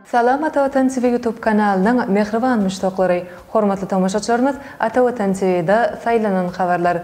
Salam Ata Watan TV YouTube kanalynyň mähriban muşdaklary! Hormatly tomaşaçylarymyz Ata Watan TVda saýlanan habarlar.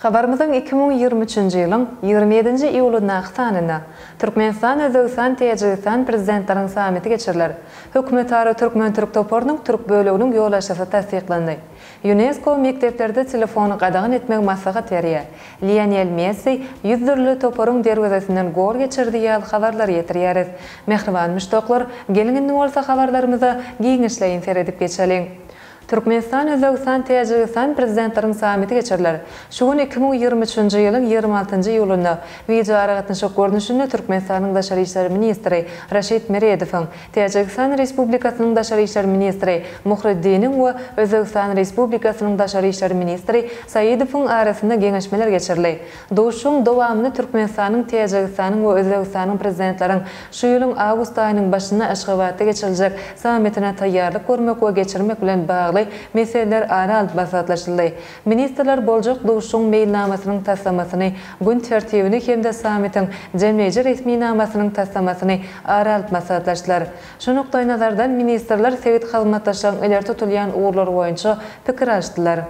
Habarymyzyň iki müň ýigrimi üçünji ýylyň ýigrimi ýedinji iýulyndaky sanynda Türkmenistan, Özbegistan, Täjigistan Prezidentleriň sammiti geçiriler. Hökümetara türkmen-türk toparynyň türk böleginiň ýolbaşçysy tassyklandy. Ýunesko mekdeplerde telefony gadagan etmegi maslahat berýär. Lionel Messi ýüz dürli toparyň derwezesinden gol geçirdi ýaly habarlary ýetirýäris. Mähriban muşdaklar, geliň indi bolsa habarlarymyza giňişleýin seredip geçeliň. Türkmenistan, Özbegistan, Täjigistan Prezidentleriň sammiti geçiriler. Şu gün iki müň ýigrimi üçünji ýylyň ýigrimi altynjy iýulynda wideoaragatnaşyk görnüşinde Türkmenistanyň daşary işler ministri Raşid Meredowyň, Täjigistan Respublikasynyň daşary işler ministri Muhriddiniň we Özbegistan Respublikasynyň daşary işler ministri Saidowyň arasynda geňeşmeler geçirildi. Duşuşygyň dowamynda Türkmenistanyň, Täjigistanyň we Özbegistanyň Prezidentleriň şu ýylyň awgust aýynyň başynda Aşgabatda geçiriljek sammitine taýýarlyk görmek we geçirmek bilen bagly meseleler ara alyp maslahatlaşyldy. Ministrler boljak duşuşygyň meýilnamasynyň taslamasyny, gün tertibini hem-de sammitiň jemleýji resminamasynyň taslamasyny ara alyp maslahatlaşdylar. Şu nukdaýnazardan ministrler sebit hyzmatdaşlygyň ileri tutulýan ugurlary boýunça pikir alyşdylar.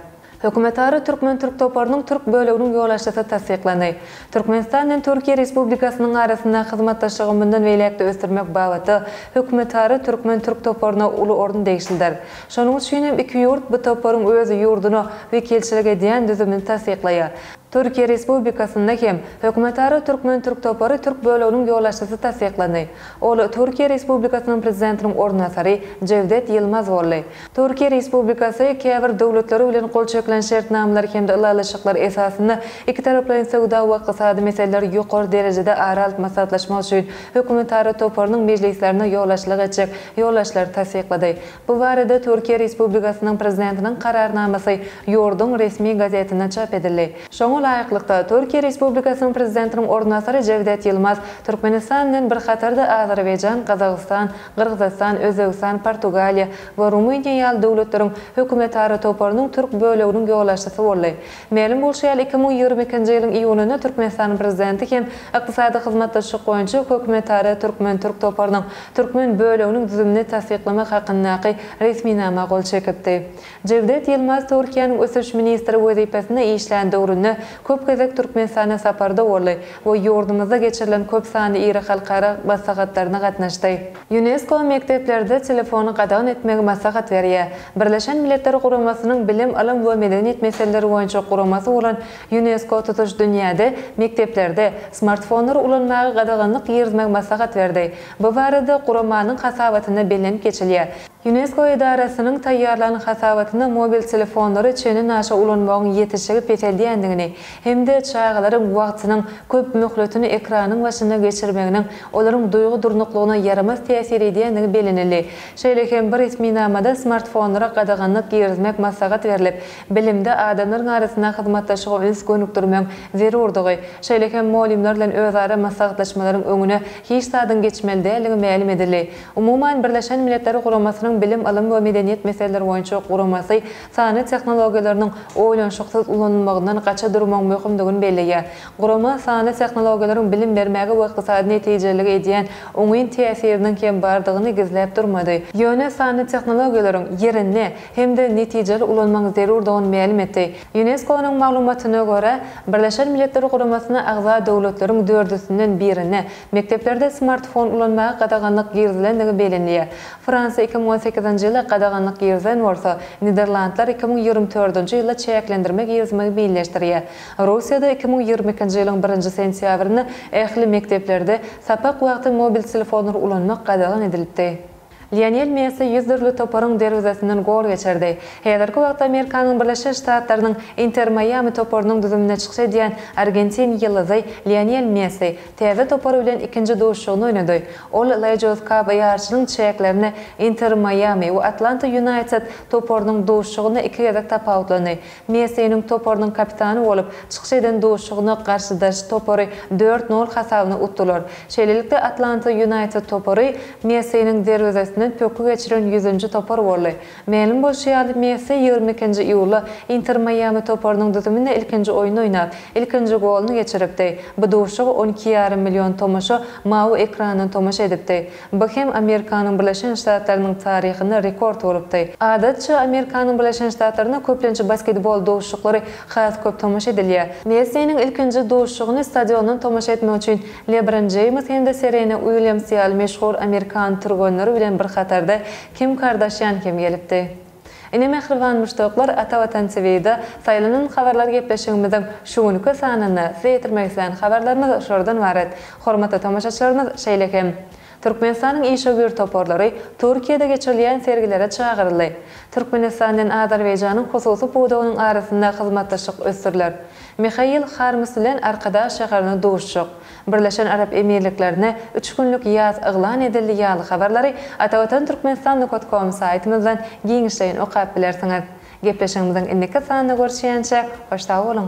Hökümetara türkmen-türk toparynyň türk böleginiň ýolbaşçysy tassyklandy. Türkmenistan bilen Türkiýe Respublikasynyň arasyndaky hyzmatdaşlygy mundan beýläk-de ösdürmek babatda Hökümetara türkmen-türk toparyna uly orun degişlidir. Şonuň üçin hem iki ýurt bu toparyň öz ýurduna wekilçilik edýän düzümini tassyklaýar. Türkiýe Respublikasynda hem Hökümetara türkmen-türk topary türk böleginiň ýolbaşçysy tassyklandy. Ol Türkiýe Respublikasynyň Prezidentiniň orunbasary Jewdet Ýylmaz boldy. Türkiýe Respublikasy käbir döwletler bilen gol çekilen şertnamalar hem-de ylalaşyklar esasynda ikitaraplaýyn söwda we ykdysady meseleleri ýokary derejede ara alyp maslahatlaşmak üçin Hökümetara toparynyň mejlislerine ýolbaşçylyk etjek ýolbaşçylary tassyklady. Bu barada Türkiýe Respublikasynyň Prezidentiniň Kararnamasy ýurduň resmi gazetinde çap edildi. Şoňa laýyklykda, Türkiýe Respublikasynyň Prezidentiniň orunbasary Jewdet Ýylmaz Türkmenistan bilen bir hatarda Azerbaýjan, Gazagystan, Gyrgyzystan, Özbegistan, Portugaliýa we Rumyniýa ýaly döwletleriň hökümetara toparynyň türk böleginiň ýolbaşçysy boldy. Mälim bolşy ýaly, iki müň ýigrimi ikinji ýylyň iýulynda Türkmenistanyň Prezidenti hem Ykdysady hyzmatdaşlyk boýunça Hökümetara türkmen-türk toparynyň türkmen böleginiň düzümini tassyklamak hakyndaky resminama gol çekipdi. Jewdet Ýylmaz Türkiýäniň Ösüş ministri wezipesinde işlän döwründe köp gezek Türkmenistana saparda boldy we ýurdumyzda geçirilen köp sanly iri halkara maslahatlaryna gatnaşdy. Ýunesko mekdeplerde telefony gadagan etmegi maslahat berýär. Birleşen Milletler Guramasynyň Bilim, ylym we medeniýet meseleleri boýunça guramasy bolan Ýunesko tutuş dünýäde mekdeplerde smartfonlary ulanmaga gadaganlyk girizmegi maslahat berdi. Bu barada guramanyň hasabatynda bellenip geçilýär. Ýunesko edarasynyň taýýarlan hasabatynda mobil telefonlary çenli naşa ulanmagyň ýetişigi peseldýändigini hem-de çagalaryň wagtynyň köp möhletini ekranyň başynda geçirmeginiň olaryň duýgy durnuklygyna ýaramaz täsir edýändigi bellenildi. Şeýle hem bu resminamada smartfonlara gadaganlyk girizmek maslahat berlip, bilimde adamlaryň arasynda hyzmatdaşlyga üns gönükdirmegiň zerurdygy, şeýle hem mugallymlar bilen özara maslahatlaşmalaryň öňüne hiç zadyň geçmeli däldigi mälim edildi. Umuman, Birleşen Milletler Guramasynyň Bilim-ylym we medeniýet meseleleri boýunça guramasy sanly tehnologiýalarynyň oýlanyşyksyz ulanylmagyndan gaça durmagyň möhümdigini belleýär. Gurama sanly tehnologiýalaryň bilim bermäge we ykdysady netijelilige edýän oňyn täsiriniň hem bardygyny gizläp durmady, ýöne sanly tehnologiýalaryň ýerinde hem-de netijeli ulanmagyň zerurdygyny mälim etdi. Ýunesko-nyň maglumatyna görä, Birleşen Milletler Guramasyna agza döwletleriň dördüsinden birine, Mekdeplerde smartfon ulanmaga gadaganlyk girizilendigi bellenilýär. Fransiýa iki müň on sekizinji ýylda gadaganlyk girizen bolsa, Niderlandlar iki müň ýigrimi dördünji ýylda çäklendirme girizmegi meýilleşdirýär. Russiýada iki müň ýigrimi ikinji ýylyň birinji sentýabrynda ähli mekdeplerde sapak wagty mobil telefonlary ulanmak gadagan edilipdi. Lionel Messi ýüz dürli toparyň derwezesinden gol geçirdi. Häzirki wagtda Amerikanyň Birleşen Ştatlarynyň Inter Maýami toparynyň düzüminde çykyş edýän argentin ýyldyzy Lionel Messi täze topary bilen ikinji duşuşygyny oýnady. Ol Legios Cup ýaryşynyň çäklerinde Inter Maýami we Atlanta Ýunaýted toparynyň duşuşygynda iki gezek tapawutlandy. Messiniň toparynyň kapitany bolup çykyş eden duşuşygyna garşydaş topary dört nol hasabyna utdular. Şeýlelikde, Atlanta Ýunaýted topary Messiniň derwezesinden pökgi geçiren ýüzünji topar boldy. Mälim bolşy ýaly, Messi ýigrimi ikinji iýulda Inter Maýami toparynyň düzüminde ilkinji oýun oýnap, ilkinji goluny geçiripdi. Bu duşuşyga on iki ýarym million tomaşa mawy ekrandan tomaşa edipdi. Bu hem Amerikanyň Birleşen Ştatlarynyň taryhynda rekord bolupdy. Adatça, Amerikanyň Birleşen Ştatlarynda köplenç basketbol duşuşyklary has köp tomaşa edilýär. Messiniň ilkinji duşuşygyny stadiondan tomaşa etmek üçin Lebron Jeýms hem-de Serena Uilýams ýaly meşhur amerikan türgenleri bilen bir hatarda Kim Kardashian hem gelipdi. Ine mähriban muşdaklar Ata Watan TVda saýlanan habarlar gepleşigimiziň şu günki sanynda size ýetirmek islän habarlarymyz şolardan ybarat. Hormatly tomaşaçylarymyz şeýle hem Türkmenistanyň işewür toparlary Türkiýede geçirilýän sergilere çagyryldy. Türkmenistan bilen Azerbaýjanyň hususy pudagynyň arasynda hyzmatdaşlyk ösdüriler. Mihail Harms bilen Arkadag şäherinde duşuşyk. Birleşen Arap Emirliklerine üç günlük ýas yglan edildi ýaly habarlary Atavatan Türkmenistan nukat kom saýtymyzdan giňişleýin okap bilersiňiz. Gepleşigimiziň indiki sanynda görüşýänçä hoş sag boluň!